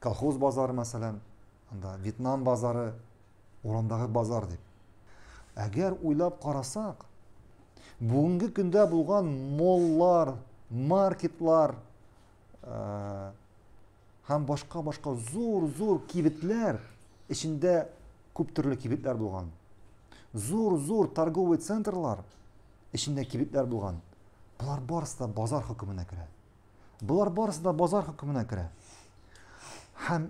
Колхоз базары, мәсәлән, анда Вьетнам базары, урындагы базар дип. Әгәр уйлап карасак, бүгенге көндә булган моллар, маркетлар э, һәм башка-башка зур-зур кибетләр эчендә күп төрле кибетләр булган. Зур-зур торговый центрлар эчендә кибетләр булган. Болар барысы да базар хөкеменә керә. Болар барысы да базар хөкеменә керә. Һәм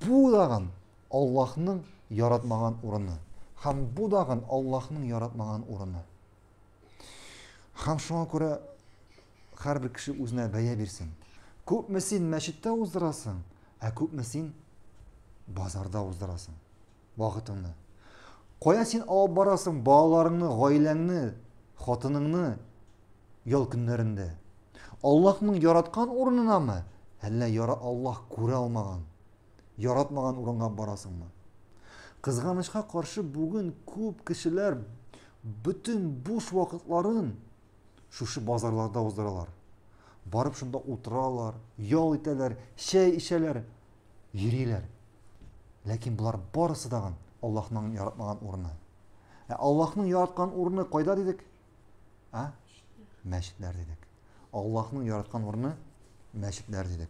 бу дагын Аллаһның яратмаган урыны. Һәм бу дагын Аллаһның яратмаган урыны. Һәм шуңа күрә һәрбер кеше үзенә бәя бирсен. Күпме син мәчеттә уздырасың, ә күпме син базарда уздырасың. вакытыңны. Кая син алып барасың балаларыңны, гаиләңне, хатыныңны ял көннәрендә? Аллаһның яраткан урынынамы, әллә яра Аллаһ күрә алмаган, яратмаган урынга барасыңмы? Кызганычка каршы бүген күп кешеләр бөтен буш вакытларын шушы базарларда уздыралар. Барып шунда утыралар, ял итәләр, чәй ишәләр, йөриләр. Ләкин болар барысы тагын Аллаһның яратмаган урыны. Ә Аллаһның яраткан урыны кайда дидек? А? Мәчетләр дидек. Аллаһның яраткан урыны мәчетләр дидек.